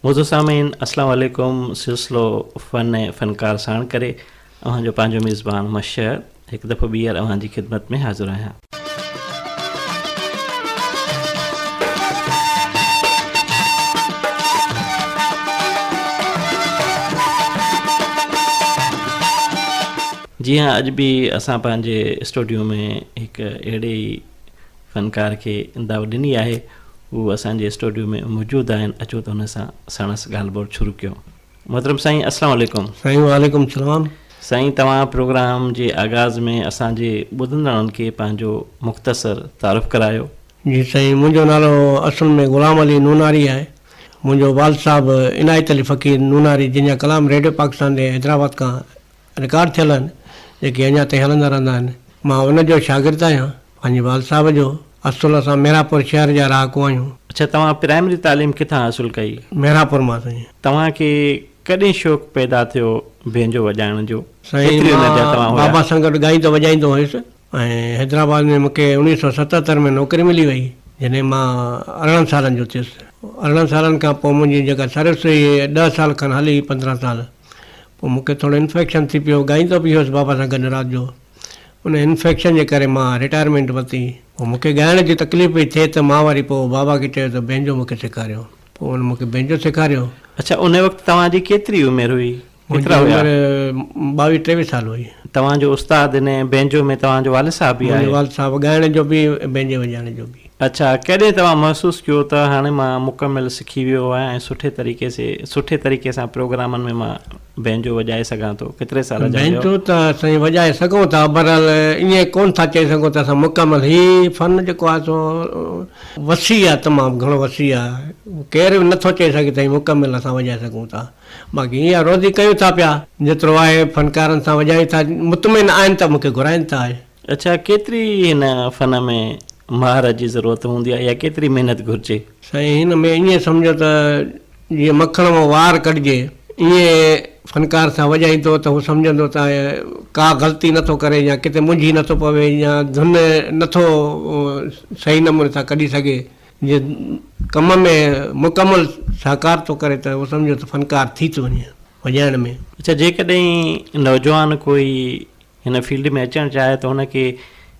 موضوع سامعين السلام عليڪم سلسلو فن فنڪار ساڻ ڪري اوهان جو پنهنجو ميزبان مشهد هڪ دفعو ٻيهر اوهان جي خدمت ۾ حاضر آهيان. جي ها اڄ به اسان پنهنجي اسٽوڊيو ۾ هڪ اهڙي ئي فنڪار کي دعوت ڏني آهي هو اسان جي اسٽوڊيو ۾ موجود آهن اچو ته هن سان ساڻس ڳالهه ٻولهه شروع ڪيون. محترم سائين اسلام عليڪم. سائين وعليڪم السلام. سائين توهان پروگرام جي آغاز ۾ اسان جي ٻڌندڙن کي پنهنجو مختصر تعارف ڪرايو. جي سائين منهنجو نالو اصل ۾ غلام علي نوناري آهي منهنجو والد صاحب عنايت علي فقير نوناري جنهن جا ڪلام ريڊيو پاڪستان ڏي حيدرآباد کان رڪارڊ ٿيل آهن، جيڪي اڃا تائين هلندا رهندا آهن. مان ان جو شاگرد آهيان. پنهنجي والد صاحب جو. اصل اسان ميرهاپور شهر جا رهاڪو آهيون. اڇا توهان پرائمري تعليم ڪٿان حاصل ڪئي؟ ميرهاپور مان سائين. توهان کي ڪڏهن شوق پيدا ٿيو بينجو وڄائڻ جو؟ سائين ڪيتري عمر جا توهان مان هيا؟ بابا سان گڏ ڳائيندو وڄائيندو هيس ۽ حيدرآباد ۾ مون کي اوڻيهه سؤ ستهتر ۾ نوڪري ملي وئي جڏهن مان ارڙهن سالن جو ٿيس. ارڙهن سالن کان پوء منهنجي جيڪا سروس هئي ڏهه سال کن هلي پندرهن سال. پوء مون کي ٿورو انفيڪشن ٿي پيو، ڳائيندو به هيس بابا سان گڏ رات جو. ان انفيڪشن جي ڪري مان رٽائرمينٽ ورتي. پوء مون کي ڳائڻ جي تڪليف پئي ٿئي ته مان وري پوء بابا کي چيو ته بينجو مون کي سيکاريو. پوء هن مون کي بينجو سيکاريو. اڇا ان وقت توهان جي ڪيتري عمر هئي؟ ڪيترا هيا؟ منهنجي عمر ٻاويهه ٽيويهه سال هئي. توهان جو استاد هن بينجو ۾ توهان جو والد صاحب به آهي؟ منهنجو والد صاحب ڳائڻ جو به بينجي وڄائڻ جو به. اڇا، ڪڏهن توهان محسوس ڪيو ته هاڻي مان مڪمل سکي ويو آهيان ۽ سٺي طريقي سي سٺي طريقي سان پروگرامن ۾ مان بئنجو وڄائي سگهان ٿو؟ ڪيتري سال جا هيو؟ بئنجو ته سائين وڄائي سگهون ٿا، بهرحال ائين ڪونه ٿا چئي سگهون ته اسان مڪمل هي فن جيڪو آهي سو وسيع آهي تمام گهڻو وسيع آهي، ڪير به نٿو چئي سگهي ته هي مڪمل اسان وڄائي سگهون ٿا، باقي ائين آهي روزي ڪيون ٿا پيا، جيترو آهي فنڪارن سان وڄايون ٿا، مطمئن آهن ته مون کي گهرائين ته آهي. اڇا ڪيتري هن فن ۾ مهارت جي ضرورت هوندي آهي يا ڪيتري محنت گهرجي؟ سائين هن ۾ ائين سمجهو ته جيئن مکڻ مان وار ڪڍجي ائين فنڪار سان وڄائيندو ته هو سمجهندو ته ڪا غلطي نه ٿو ڪري يا ڪٿي منجهي نه ٿو پوي يا ڌن نه ٿو صحيح نموني سان ڪڍي سگهي جي ڪم ۾ مڪمل سهڪار ٿو ڪري ته هو سمجهو ته فنڪار ٿي ٿو وڃي وڄائڻ ۾. اڇا جيڪڏهن نوجوان ڪوئي هن فيلڊ ۾ اچڻ چاهي ته هن کي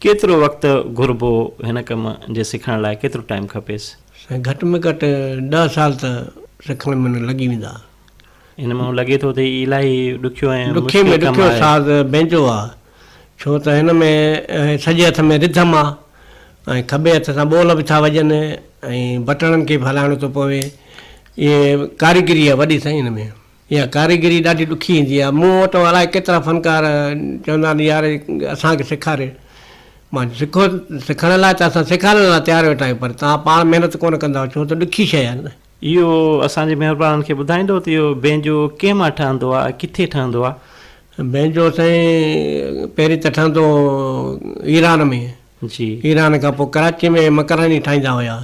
ڪيترو وقت گهربو هن ڪم جي سکڻ لاء ڪيترو ٽائيم کپيس؟ سائين گهٽ ۾ گهٽ ڏهه سال ته سکڻ ۾ لڳي ويندا. هن مان لڳي ٿو ته هي الائي ڏکيو ۽ ڏکي ۾ ڏکيو ساز بئنجو آ ڇو ته هن ۾ سڄي هٿ ۾ رڌم آ ۽ کٻي هٿ سان ٻول به ٿا وڄن ۽ بٽڻن کي به هلائڻو ٿو پوي اهي ڪاريگري آ وڏي سائين هن ۾. اها ڪاريگري ڏاڍي ڏکي ايندي آهي. مون وٽ الائي ڪيترا فنڪار چوندا آهن يار اسان کي سيکاري. مان سکو سکڻ لاء ته اسان سيکارڻ لاء تيار ويٺا آهيون پر توهان پاڻ محنت ڪونه ڪنداآهيو ڇو ته ڏکي شيء آهي نه. اهو اسان جي مهربانن کي ٻڌائيندو ته اهو بينجو ڪنهن مان ٺهندو آهي ۽ ڪٿي ٺهندو آهي؟ بينجو سائين پهرين ته ٺهندو هو ايران ۾ جي. ايران کان پوء ڪراچي ۾ مڪراني ٺاهيندا هيا.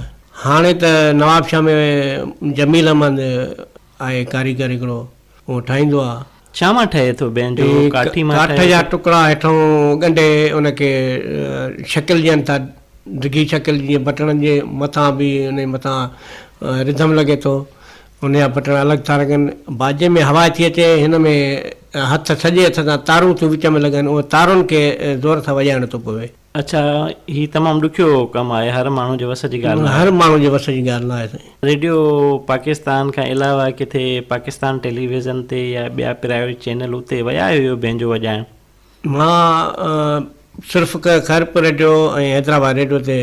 هاڻي ته نوابشاهه ۾ جميل احمد آهي ڪاريگر هڪڙو اهو ٺاهيندو آ. ڇا مان ٺهي ٿو بينڊ اهو ڪاٺي مان ٺهي ٿو. ڪاٺ جا ٽڪرا هيٺئون ڳنڍي ان کي شڪل ڏين ٿا ڊگهي شڪل جيئن بٽڻن جي مٿان به انهي مٿان رڌم لڳي ٿو ان جا بٽڻ الڳ ٿا لڳن باجي ۾ هوا ٿي اچي هن ۾ هٿ سڄي هٿ سان تارون ٿيون وچ ۾ لڳن ان تارن کي زور سان وڄائڻو ٿو پوي. اڇا هي تمام ڏکيو ڪم آهي هر ماڻهو جي وس جي ڳالهه نه آهي. هر ماڻهو جي وس جي ڳالهه نه آهي سائين. ريڊيو پاڪستان کان علاوه ڪٿي پاڪستان ٽيلي ويزن تي يا ٻيا پرائيويٽ چينل اتي ويا آهيو بينجو وڄائڻ؟ مان صرف خيرپور ريڊيو ۽ حيدرآباد ريڊيو تي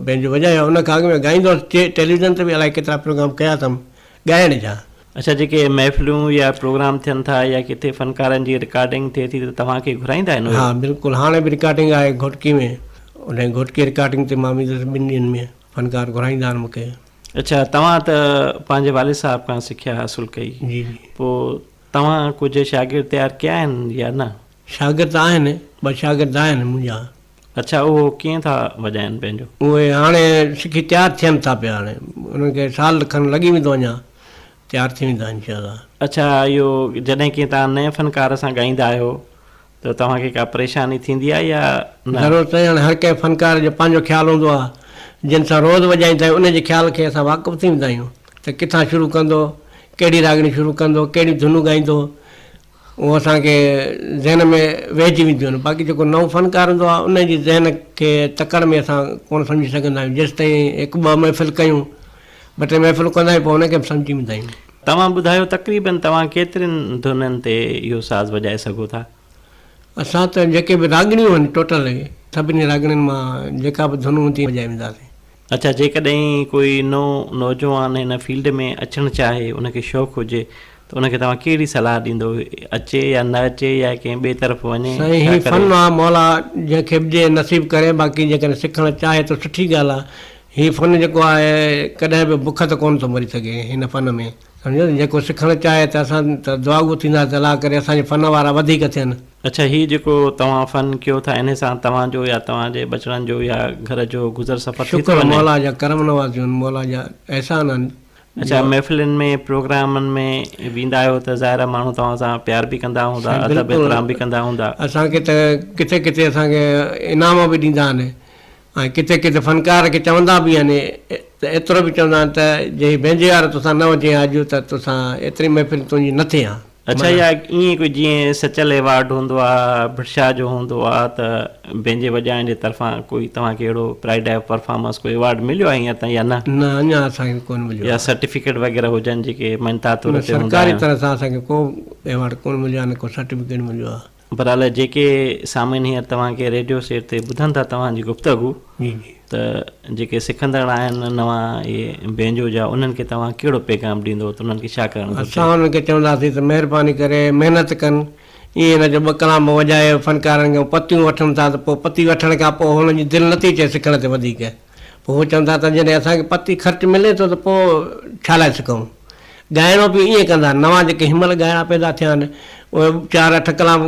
بينجو وڄايو آهي ان کان اڳ ۾ ڳائيندو هوس ٽيلي ويزن تي به الائي ڪيترا پروگرام ڪيا اٿم ڳائڻ جا. اڇا جيڪي محفلون يا پروگرام ٿين ٿا يا ڪٿي فنڪارن جي رڪارڊنگ ٿئي ٿي ته توهان کي گهرائيندا آهن اهي؟ ها بلڪل هاڻي به رڪارڊنگ آهي گهوٽڪي ۾ انهي گهوٽڪي رڪارڊنگ تي مان ويندس ٻن ڏينهن ۾ فنڪار گهرائيندا آهن مونکي. اڇا توهان ته پنهنجي والد صاحب کان سکيا حاصل ڪئي جي جي. پوء توهان ڪجهه شاگرد تيار ڪيا آهن يا نه؟ شاگرد آهن ٻه شاگرد آهن منهنجا اڇا اهو ڪيئن ٿا وڄائن پنهنجو. اهي هاڻي سکي تيار ٿين ٿا پيا هاڻي انهن کي سال کن لڳي ويندو اڃا تيار ٿي ويندا انشاء الله. اڇا اهو جڏهن ڪنهن تان نئين فنڪار سان ڳائيندا آهيو ته توهان کي ڪا پريشاني ٿيندي آهي يا نه. ضرور سائين هاڻي هر ڪنهن فنڪار جو پنهنجو خيال هوندو آهي جن سان روز وڄائيندا آهيون انهن جي خيال کي اسان واقف ٿي ويندا آهيون ته ڪٿان شروع ڪندو ڪهڙي راڳڻي شروع ڪندو ڪهڙيون ڌنون ڳائيندو اهو اسان کي ذهن ۾ ويهجي وينديون آهن باقي جيڪو نئون فنڪار هوندو آهي ان جي ذهن کي تڪڙ ۾ اسان ڪونه سمجهي سگهندا آهيون جيستائين هڪ ٻه محفل ڪيون ٻه ٽي محفلون ڪندا آهيون پوء ان کي به سمجهي ويندا آهيون. توهان ٻڌايو تقريبن توهان ڪيترين ڌنن تي اهو ساز وڄائي سگهو ٿا؟ اسان ته جيڪي به راڳڻيون آهن ٽوٽل سڀني راڳڻين مان جيڪا به ڌن هوندي وڄائي وينداسين. اچا جيڪڏهن ڪوئي نئون نوجوان هن فيلڊ ۾ اچڻ چاهي ان کي شوق هجي ته ان کي توهان ڪهڙي صلاح ڏيندو اچي يا نه اچي يا ڪنهن ٻئي طرف وڃي سائين هي فن آ مولا جنهن کي به ڏي نصيب ڪري باقي جيڪڏهن سکڻ چاهي ته سٺي ڳالهه آ هي فن جيڪو آهي ڪڏهن به بک ته ڪونه ٿو مري سگهي هن فن ۾ سمجهيو ته جيڪو سکڻ چاهي ته اسان ته دعاگو ٿينداسين ته الله ڪري اسان جي فن وارا وڌيڪ ٿين. اڇا هي جيڪو توهان فن ڪيو ٿا انهي سان توهان جو يا توهان جي ٻچڙن جو يا گهر جو گذر سفر ٿي ٿو وڃي؟ شڪر مولا جا ڪرم نوازيون مولا جا احسان آهن جو. اڇا محفلين ۾ پروگرامن ۾ ويندا آهيو ته ظاهر آهي ماڻهو توهان سان پيار به ڪندا هوندا سائين ادب بلڪل احترام به ڪندا هوندا. اسان کي ته ڪٿي ڪٿي اسان کي انعام به ڏيندا آهن. ۽ ڪٿي ڪٿي فنڪار کي چوندا به آهن ته ايترو به چوندا آهن ته جي بينجي وارو توسان نه هجي ها اڄ ته توسان ايتري محفل تنهنجي نه ٿئي ها. اڇا اها ائين ڪو جيئن سچل ايوارڊ هوندو آ ڀٽشاهه جو هوندو آ ته بينجي وڄائڻ جي طرفان ڪوئي توهان کي اهڙو پرائڊ آف پرفارمنس ڪو ايوارڊ مليو آ هينئر تائين يا نه؟ نه اڃان اسان کي ڪونه مليو آ. يا سرٽيفڪيٽ وغيره هجن جيڪي مڃتا طور تي هوندا آهن. سرڪاري طرح سان اسان کي ڪو ايوارڊ ڪونه مليو آ نه ڪو سرٽيفڪيٽ مليو آ. برحال جيڪي سامعين هينئر توهان کي ريڊيو سيٽ تي ٻڌن ٿا توهان جي گفتگو جي جي ته جيڪي سکندڙ آهن نوان اهي بينجو جا انهن کي توهان ڪهڙو پيغام ڏيندو ته انهن کي ڇا ڪرڻ گهرجي اسان انهن کي چونداسين ته مهرباني ڪري محنت ڪن ائين نه جو ٻه ڪلام وڄائي فنڪارن کان پتيون وٺن ٿا ته پوء پتي وٺڻ کان پوء هنن جي دل نٿي چئي سکڻ تي وڌيڪ پوء هو چون ٿا ته جڏهن اسان کي پتي خرچ ملي ٿو ته پوء ڇا لاء سکون؟ ڳائڻو به ائين ڪندا، نوان جيڪي هن مهل ڳائڻا پيدا ٿيا آهن، اهي چار اٺ ڪلام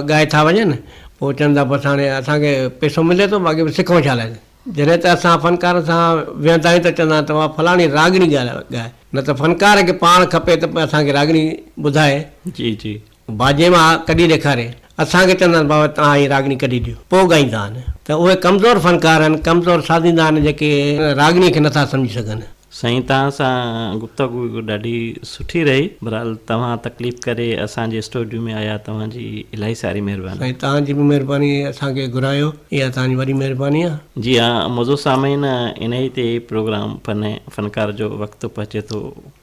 ڳائي ٿا وڃن، پوء چون ٿا بس هاڻي اسان کي پئسو ملي ٿو، باقي سکون ڇا لاء؟ جڏهن ته اسان فنڪارن سان ويهندا آهيون ته چوندا آهن ته اها فلاڻي راڳڻي ڳائي، نه ته فنڪار کي پاڻ کپي ته اسان کي راڳڻي ٻڌائي. جي جي. باجي مان ڪڍي ڏيکاري اسان کي چوندا آهن بابا توهان هي راڳڻي ڪڍي ڏيو پوء ڳائيندا آهن ته اهي ڪمزور فنڪار آهن ڪمزور سازيندا آهن جيڪي راڳڻي کي نٿا سمجهي سگهن. سائين توهان سان گفتگو ڏاڍي سٺي رهي برحال توهان تڪليف ڪري اسان جي اسٽوڊيو ۾ آيا توهان جي الاهي ساري مهرباني. سائين توهان جي به مهرباني اسان کي گهرايو اها توهان جي وڏي مهرباني آهي. جي ها معزز سامعين انهي تي پروگرام فن فنڪار جو وقت پهچي ٿو.